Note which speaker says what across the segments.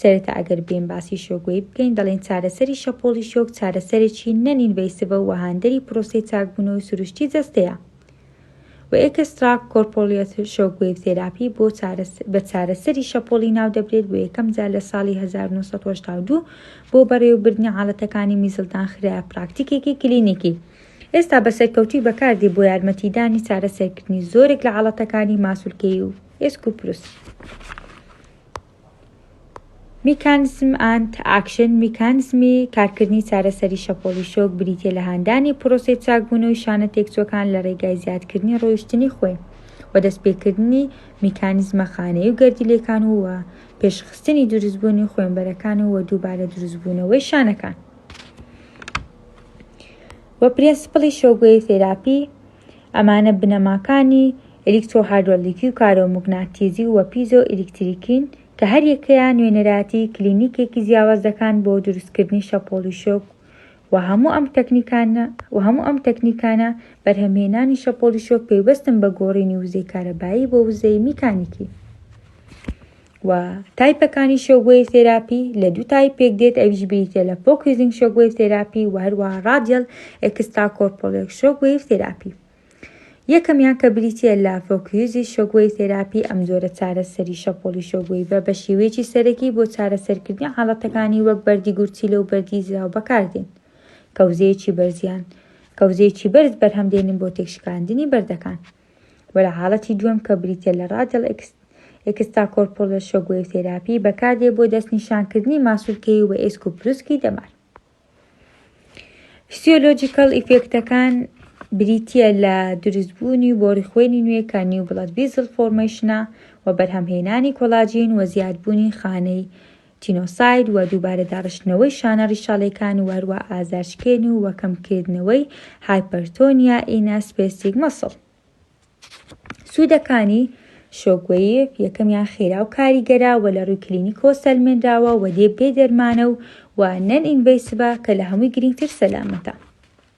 Speaker 1: سەرەتا ئەگەر بێین باسی شۆگۆی بکەین دەڵێین چارەسەری شەپۆڵی شۆک چارەسەرێکی نەن ئینڤەیسڤە و هاندەری پرۆسەی چاکبوونەوەی سروشتی جەستەیە و ئێکستراک کۆرپۆلیۆت شۆک وێڤ تێراپی بۆ بە چارەسەری شەپۆڵی ناو دەبرێت بۆ یەکەم جار لە ساڵی 1982 بۆ بەڕێوەبردنی حاڵەتەکانی میزڵدان خرایە پراکتیکێکی کلینیکی ئێستا بە سەرکەوتوی بەکاردی بۆ یارمەتیدانی چارەسەرکردنی زۆرێک لە حاڵەتەکانی ماسولکەی و ئێسک و پروس. میکانزم ئانت ئاکشن، میکانزمی کارکردنی چارەسەری شەپۆڵی شۆک، بریتییە لە هاندانی پرۆسەی چاکبوونەوەی شانە تێکچووەکان لە ڕێگای زیادکردنی ڕۆیشتنی خوێ و دەستپێکردنی میکانزمە خانەیی و گەردیلەکان و وە پێشخستنی دروستبوونی خوێنبەرەکان و وە دووبارە دروستبوونەوەی شانەکان. وە پرێنسپڵی شۆکوەیڤ تێراپی، ئەمانە بنەماکانی ئەلیکترۆهایدرۆلیکی و کارۆموگناتیزی و پیزۆ ئەلیکتریکین کە هەر یەکەیان نوێنەرایەتی کلینیکێکی جیاواز دەکان بۆ دروستکردنی شەپۆڵی شۆک و هەموو ئەم تەکنیکانە و هەموو ئەم تەکنیکانە بەرهەمهێنانی شەپۆڵی شۆک پەیوەستن بە گۆڕینی وزەی کارەبایی بۆ وزەی میکانیکی. و تایپەکانی شۆکوەیڤ تێراپی لە دوو تایپ پێک دێت ئەویش بریتیە لە فۆکوزینگ شۆکوەیڤ تێراپی و هەروەها ڕادیەل ئێکسترا کۆرپۆلێک شۆکوەیڤ تێراپی یەکەمیان کە بریتیە لە فۆکوزی شۆکوەیڤ تێراپی ئەم جۆرە چارەسەری شەپۆڵی شۆکوەیڤە بە شێوەیەکی سەرەکی بۆ چارەسەرکردنی حاڵەتەکانی وەک بەردی گورچیلە و بەردی زراو بەکاردێن کەوزەیەکی بەرزیان کەوزەیەکی بەرز بەرهەم دێنن بۆ تێکشکاندنی بەردەکان و لە حاڵەتی دووەم کە بریتیە لە ڕادیەڵ ئێکستاکۆرپۆلەر شۆک وەیڤ تێراپی بەکاردێ بۆ دەستنیشانکردنی ماسولکەیی و ئێسک و پروسکی دەمار. فسیۆلۆجیکەڵ ئیفێکتەکان بریتیە لە دروستبوونی و بۆری خوێنی نوێ کە نیو بڵەت ڤیزل فۆرمەیشنە و بەرهەمهێنانی کۆلاجین و زیادبوونی خانەی جینۆساید و دووبارە داڕشتنەوەی شانە ڕیشاڵیەکان و هەروا ئازارشکێن و وە کەم کردنەوەی هایپەرتۆنیا ئینا سپێسیک مەسڵ. سوودەکانی شۆکوەیڤ یەکەمیان خێرا و کاریگەرە و لە ڕووی کلینیکەوە سەلمێنراوە و دێ بێ دەرمانە و وە نەن ئینڤەیسڤە کە لە هەمووی گرینگتر سەلامەتە.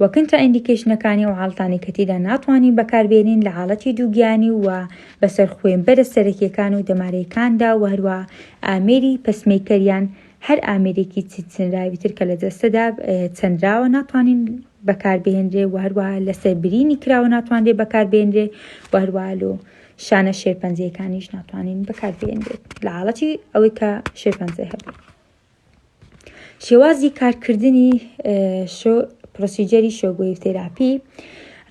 Speaker 1: و کنترا ئیندیکەیشنەکانی ئەو حاڵەتانەی کە تێیدا ناتوانین بەکاربێنین لە حاڵەتی دووگیانی و بەسەر خوێنبەرە سەرەکیەکان و دەمارەیکاندا و هەروەها ئامێری پەسمەیکەر یان هەر ئامێرێکی چنراوی تر کە لە جەستەدا چنراوە ناتوانین بەکاربهێنرێ و هەروەها لەسەر برینی کراوە ناتوانرێ بەکاربێنرێ و هەروەها لۆ شانە شێرپەنجەیەکانیش ناتوانین بەکاربێنرێت لە حاڵەتی ئەوەی کە شێرپەنجەی هەبێت شێوازی کارکردنی پرۆسیجەری شۆگوی تێراپی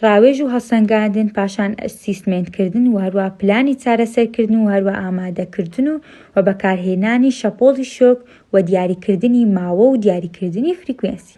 Speaker 1: ڕاوێژ و هەسەنگاندن پاشان سیستمێنکردن و هەروە پلانی چارەسەرکردن و هەروە ئامادەکردن و و بەکارهێنانی شەپۆڵی شۆک و دیاریکردنی ماوە و دیاریکردنی فریکوێنسی